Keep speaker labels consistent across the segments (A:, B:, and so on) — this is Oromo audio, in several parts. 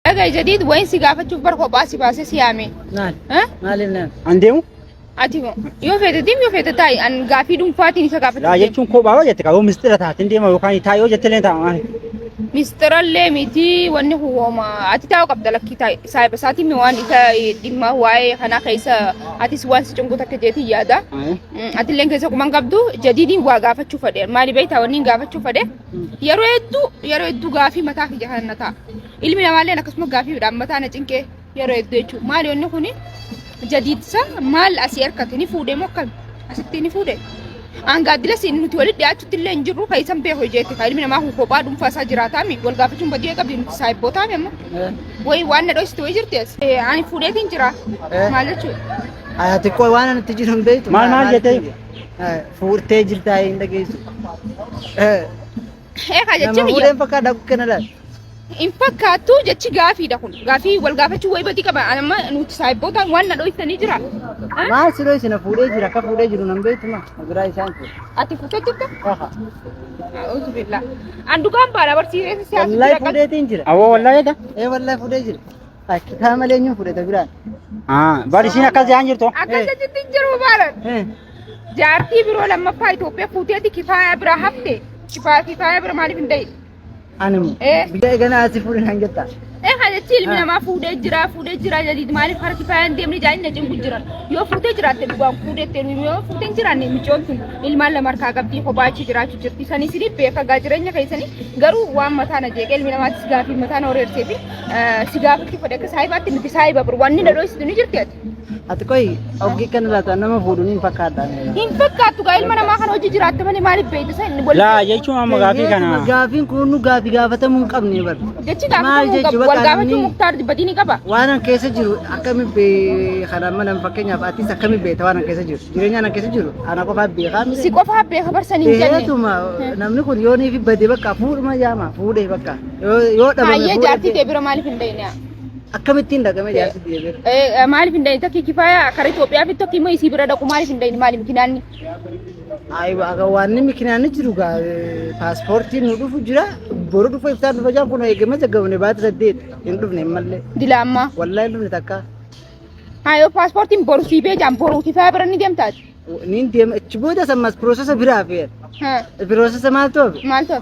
A: Dhagai jadiid wayin si gaafachuuf bar kophaa si baasee si yaame. Maal? Ha?
B: Maaliif nama?
A: An deemu?
C: Ati moo
A: yoo feete deem yoo feete taa'i an gaafii dhuunfaatiin isa Laa gaafachuuf deema. jechuun kophaa yoo jette
C: qaboo mistira taateen deema yookaan taa'e yoo jette illee ta'a maali? Mistirallee
A: miti wanni kun wooma ati taa'u qabda lakkii taa'i saahiba isaatiin mi waan isa eh, dhimma waa'ee kanaa keessa atis waan si cunqu takka jeetii yaada. Mm, Atilleen keessa kuman qabdu jadiidiin waa gaafachuu fedhe maali beektaa wanni hin gaafachuu fedhe Yeroo hedduu yeroo hedduu gaafii mataa kiyya kana na ta'a. Ilmi namaallee akkasuma gaafiidhaan mataa na cinqee yeroo hedduu jechuudha. Maali wanni kuni jadiidsa maal asii harkatti ni fuudhee moo akkami? Asitti ni fuudhee? Angaaddila siin nuti walitti dhiyaachutti illee hin jirru kan isan beeku hojeetti kan ilmi namaa kun kophaa dhuunfaa isaa jiraataami wal gaafachuun badii qabdi nuti saayibbootaami amma wayi waan na dhoositu wayi jirti as. Ani fuudheetiin jira maal jechuudha? Ati qoy waan
B: ani itti jiru hin beektu. Maal maal jettee?
C: Fuurtee
B: jirtaa hin dhageessu.
A: Eegaa jechi Nama biyya fuudheen fakkaata akka kana
B: laal. hin fakkaattu
A: jechi gaafiidha kun. Gaafii wal gaafachuu wayii badii qaba. Ani amma nuti saayibbootaan waan na dho'iftanii jira. Ha? Maal siroo
B: isin fuudhee jira akka fuudhee jiru nan beektuma. Biraa isaan kun. Ati fuutee jirta?
A: Kaha. A'uuzu billaa. An dhugaan baadha barsiisee siyaasa Wallahi jira. fuudheetiin jira.
B: Awoo wallaahi egaa. Ee
C: wallahi fuudhee jira.
B: Akkitaa malee eenyuun fudhata biraan? Ah, bar isiin
C: akkas jaan jirtu. Akkasa jitti hin jiru
A: baalan. Eh, Jaartii biroo lammaffaa Itoophiyaa fuuteeti kifaayaa biraa hafte. Kifaa- Kifaayaa bira maaliif hin da'i? Anuma. Eh.
B: Biyya eeganaa asii fuudhin hanga jettaa. Ee kan jechi ilmi
A: Ah. namaa fuudhee jira fuudhee jira jadiid maaliif harki kifaayaa hin deemne jaanii na cinqu jiran. Yoo fuutee jiraatte dhugaan fuudhette nuyi yoo fuutee hin jiraanne micoon sun ilmaan lama harkaa qabdii kophaa achi jiraachuu jirti. Isanii sirrii beekaa jireenya keessanii garuu waan mataa na jeeqee ilmi namaattis gaafii mataa na horeersee fi Si gaafachuu fedhe akka saahibaatti miti saahiba bur wanni na dhoysitu ni jirti ati. Ati
B: qoy oggii kan irraa ta'an nama fuudhu ni hin fakkaadha. Hin fakkaattu
A: gaa ilma namaa kan hojii jiraatte malee maaliif beeytu isa inni wal. Laa jechuun amma
C: gaafii kana. Gaafiin kun nu gaafii
B: gaafatamuu hin qabne bar. Jechi Maal gaafatamuu jechu
A: qabu wal bakka gaafachuu namni- muktaar badii ni qaba. Waan an keessa jiru
B: akkamiin bee kana mana fakkeenyaaf atis akkamiin beekta waan an keessa jiru jireenyaan an keessa jiru ana qofaa beekaa miti. Si qofaa beeka barsan
A: hin jenne. Beetuma namni kun
B: yoonii fi badee bakka fuudhuma yaama fuudhee bakka. Yoo dhabame Faayyee booda jaartii tee bira maaliif
A: hin dhayne? akkamittiin dhaqame
B: jaarsi biyya bira. Eh, Maaliif hin dhayne? Tokki
A: kifaaya karaa Itoophiyaa fi tokki immoo isii bira dhaqu maaliif hin dhayne? Maaliif kinaanni? Ayi
B: aga waanni mikinaan jiru gaa paaspoortiin nu dhufu jira boru dhufa iftaan dhufa jaan kun eegama jaggabne baata saddeet hin dhufne hin malle Dila ammaa. wallahi hin
A: dhufne takka
B: Haa yoo
A: paaspoortiin boru sii bee jaan boru kifaaya bira ni deemtaati. niin deema achi
B: booda sammas piroosesa biraa fe'an Haa piroosesa maal ta'u maal ta'u?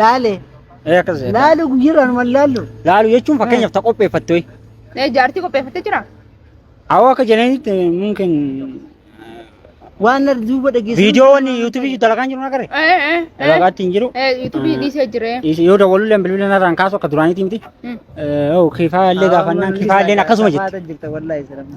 C: Laale.
B: Ee akkas jedha.
C: Laalu guyyaarraa
B: numan laallu. Laalu jechuun fakkeenyaaf
C: ta qopheeffatte ho'i. Ee jaartii
A: qopheeffattee jira? Awoo akka
C: jedhanitti mungkin
B: Waan na duuba dhageessu. viidiyoo wanni yuutuubii
C: dalagaan jiru nagarre. Ee ee ee. Dalagaatti hin jiru. Ee yuutuubii dhiisee
A: jiree. Yoo dawwalullee bilbila
C: narraan kaasu akka duraaniitii miti. Mm. Yoo kifaa illee gaafannaan kifaa illee akkasuma jetti. Jirta wallaahi sirama.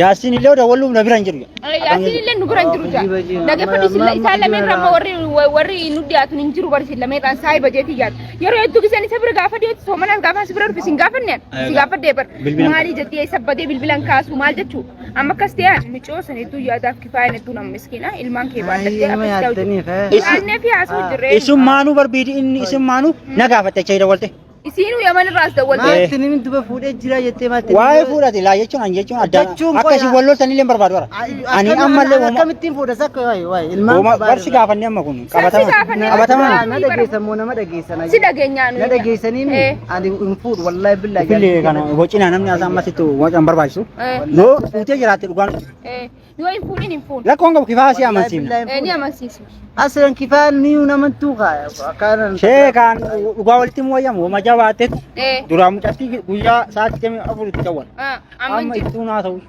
B: Yaasiin illee oda walluuf
C: na bira hin jiru. Yaasiin illee nu bira hin
A: jiru jaa. Dhaggeeffadhu silla isaan lameen ramma warri warri nu dhiyaatu hin jiru barisiin lameen dhaan saayii bajeetii yaadu. Yeroo hedduu giseen isa bira gaafa dhiyeetti soomanaan gaafa si bira dhufe sin gaafanne si gaafadhee bar. Maalii jettee isa badee bilbilan kaasu maal jechuu amma akkas ta'e micoo san hedduu yaadaaf kifaayaan hedduu nama miskiina ilmaan kee baadhattee akkas ta'u jiru. Aanneef yaasuu jirree. Isin maanuu barbiidi
C: inni isin maanuu na gaafatte achi hidha walte. Isiinuu yaman irraa
A: as dawwaltee. Maatti ni duba fuudhee
B: jira jettee maatti. Waa'ee fuudhati laa jechuun
C: ani jechuun adda Jechuun akka isin qoyaa. wal loltan illee hin barbaadu bara. Ani ammallee wama akkamittiin fuudha sakka
B: waa'ee waa'ee ilmaan wama qabaa barsi irraa. gaafanne amma kun
C: qabatama gaafanne. qabatama Na- na dhageessan
B: moo nama dhageessan Si dhageenyaa nuyi. na
A: dhageessanii mi
B: Eh. ani hin fuudhu wallaahi billaahi fillee kana bocinaa
C: namni as ammasitti waan barbaachisu Eh. yoo fuutee jiraatte dhugaan Eh. Yoo hin fuudhin
A: hin fuudhin. Rakkoon qabu kifaa si amansiifna.
C: Eh, Ni
A: amansiisu. Aslan kifaa
B: niyuu namantuu kaaya. Akkaanan. Sheekaan
C: dhugaa walitti hin wayyamu. Homa jabaattetti Eh, duraa mucattii guyyaa sa'aatii jamii afuritti jawwan. ah, Amma amantii. ittuu naa ta'u.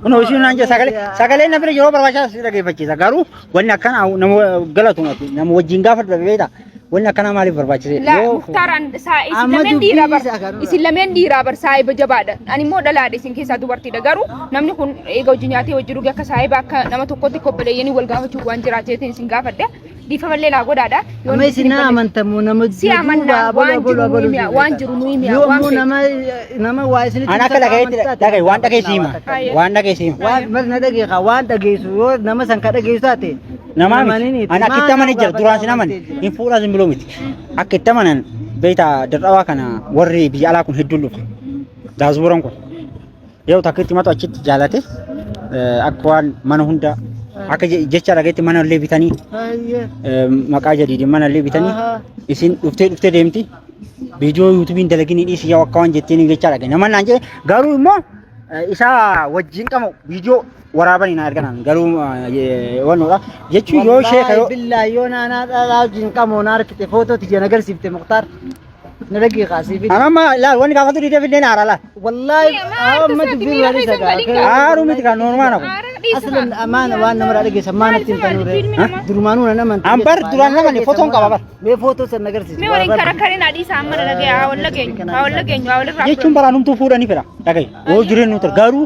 C: Kunoo ishii naan jedha sagalee sagalee na bira yeroo barbaachisaa si dhageeffachiisa garuu wanni akkana nama galatu mati nama wajjin gaafa dhabeeta Wanni akkanaa maaliif barbaachise? Laa Yoo- muktaar an
A: saa isin Amma lameen dubbii dhiiraa bar isaa kanarra. isin lameen dhiiraa bar saahiba jabaadha ani immoo dhalaadha isin keessaa dubartiidha garuu namni kun eega hojii nyaatee hojii dhugee akka saahiba akka nama tokkotti kobbaleeyyanii wal gaafachuu waan jiraateetiin isin gaafadha dhiifamallee naa godhaadha Yoo Amma isin na
B: amantamu nama Si amanna, waan
A: jiru nuyi mi'a, waan jiru nuyi mi'a, waan Yoomuu feetu. nama nama
B: waa isinitti An akka dhagayeetti
C: dhagaye waan dhageessiima. Waan dhageessiima. Waan mal na dhageekaa
B: waan dhageessu yoo nama san ka dhageessu taate Namaa Namani miti. miti.
C: Ani akka itti Maal amanan nama jira. Duraan sin gaafata amane. jechuudha. Hin fuudhaa sin buloo miti. Akka itti amanan beektaa dadhabaa kana warri biyya alaa kun hedduun dhufa. Daasbuuran kun. Yoo takka itti matu achitti jaalate eh, akka waan mana hunda akka je- jecha dhageetti mana illee bitanii Hayyee. eh, maqaa jadiidin mana illee bitanii Ahaa. isin dhuftee dhuftee deemti. Viidiyoo yuutuubiin dalagini dhiisi yoo akka waan jetteen jecha dhage. Nama naan jedhe garuu immoo eh, isaa wajjin qabu viidiyoo waraabani na erganan garuu wannoodha jechuu yoo sheeka yoo billaa yoo naanaa dhalaa
B: wajjin qamoo na harkite footoo tiyya na garsiifte muktaar na dhagii kaasii fi amma laal wanni gaafatu
C: dhiitee fidnee naara laal wallaahi
B: amma dubbii waan isa gaafee aaru miti kan noormaana
C: kun aslan amaana
B: waan namarraa dhageessan maana ittiin tanuure durumaanuu nan amantii An bar duraan namani
C: fotoon qaba bar. mee footoo san na garsiisi
B: Mee waliin karakkarin adii
A: isaa amma dhagee haa wal dhageenyu haa wal dhageenyu haa wal irraa jechuun baraanumtuu fuudhanii
C: fira dhagaye yoo jireenyu ture garuu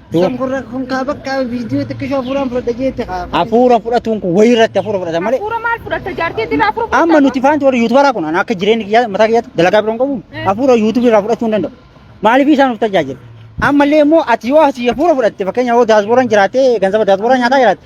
C: Kan kun rak-
B: kun kaa bakka viidiyoo xiqqishoo hafuuraan fudhadha jeette kaa. Hafuura fudhatuun
C: kun wayii irratti hafuura fudhata malee. Hafuura maal fudhatta jaartii irraa
A: hafuura fudhatta. Amma nuti faanti warri yuutubaraa
C: kun ani akka jireenya kiyyaa mataa kiyyaatti dalagaa biroon qabu Eh. hafuura yuutubii irraa fudhachuu hin danda'u. Maaliif isaan nuuf tajaajila? Ammallee immoo ati yoo asii hafuura fudhatte fakkeenyaaf yoo daasbooraan jiraatee ganzaba daasbooraan nyaataa jiraatte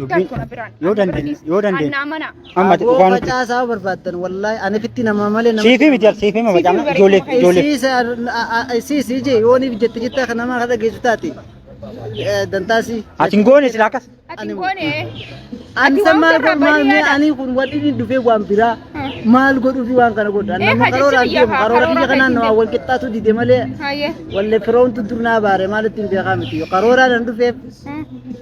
C: Ittaan kona biraan.
A: Yoo dandeenye, yoo
C: dandeenye. Annaa mana. Amma ati
A: Aboo dhugaa nutti.
C: facaasaa
B: barbaaddan wallaahi ani fitti nama malee nama. Siifii miti ati siifii mama jaamna
C: ijoollee ijoollee. Isiis
B: ije yooniif jette jette akka namaa kadha geessu taate dantaasii. Ati hin goone
C: silaa akkas. Ati hin goone.
A: Ani san
B: maal godhu maal mee ani kun wanni inni dhufee waan biraa maal godhuu fi waan kana godhu. Ani Eh, nama haa karoora jechuun deemu biyya karoora karoora biyya kanaan keessi namaa wal qixxaatu dide malee Hayyee. wallee firoomtu durnaa baare maalitti hin beekaa miti. Karooraan hin dhufeef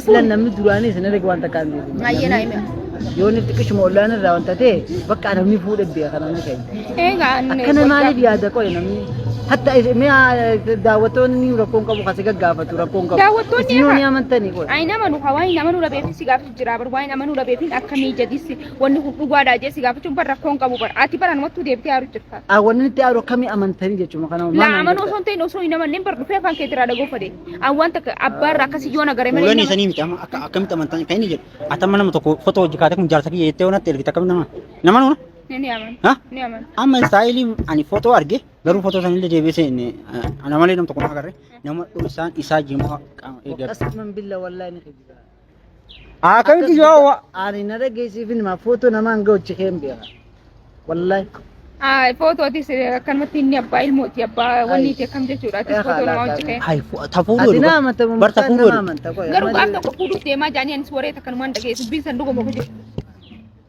A: Aslan
B: namni duraanii isin erga waan takkaan beeku. Baay'ee naa hime.
A: Yoo inni xiqqishuma
B: ollaan irraa wanta ta'e bakka namni fuudhe beeka kan namni keenya. Egaa inni Akkana gochaa-
A: maaliif yaada
B: qoye namni? Hatta is- mi'a daawwattoonni rakkoon qabu kasi gaggaafatu rakkoon qabu. Daawwattoonni Isin yoo irra- ni amantanii
A: qoye.
B: Ayi nama nu hawaani nama nu
A: dhabeefin si gaafachuu jira bar waa'ee nama nu dhabeefin akkamii jedhisi wanni kun dhugaadha jee si gaafachuun bar rakkoon qabu bar ati bar anumattuu deebitee haaruu jirta. Awwanni itti aaru akkamii
B: amantanii jechuudha kana maal Laa nama amanuu osoo jirta? hin ta'in osoo
A: hin amanneen bar dhufee afaan kee irraa dhagoofa dee. An waan takka abbaa irraa akkasii yoo nagare malee Fuulonni nama- isanii miti amma akka akkamitti
C: amantan kan inni jedhu. Ati amma nama tokko foto hojii kaatee kun jaarsa kiyya jettee yoo natti ergite akkamitti nama nama nuuna? Ni aman. Ha? Ni
A: aman. Amma istaayilii
C: ani foto arge garuu foto sana illee deebisee inni ana malee nama tokko na agarre nama isaan isaa jimaa qaama eeggatu. Qasman billa wallahi
B: ni qeebisaa. Akkamitti
C: yoo wa- Ani na dhageessiifin
B: maa footoo namaan ga'uchi keen beeka. Wallahi.
A: Footootis akkanumatti inni abbaa ilmooti abbaa wanniiti akkam jechuudha. Atis footoo namaa hojii kee. Hai fu- ta fuudhu Ati jedhu na
C: bar- amanta bar ta
B: fuudhu jedhu.
C: Garuu gaaf tokko
A: fuudhuuf deemaa jaanii anis waree takkanumaan dhageessu biin san dhuguma hojii.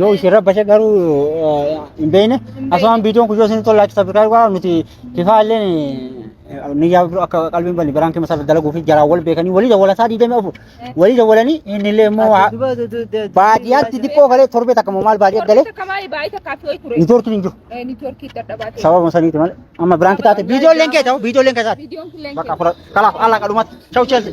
C: Yoo isin rabbashe garuu hin beekne asumaan viidiyoon kun yoo isin tola laayik sabskiraayib godhaa nuti fifaa illee niyyaa biroo akka qalbiin banne biraan keessa dalaguu fi jaraan wal beekanii walii dawwala isaa diidamii afur walii dawwalanii inni illee immoo baadiyyaatti xiqqoo galee torbee takka immoo maal baadiyyaa galee niitoorkiin hin jiru
A: sababa saniiti malee
C: amma biraan keessa taate viidiyoon leen kee ta'u viidiyoon leen keessaati bakka fudhatu kalaaf allaa qadhumatti chau cheelsi.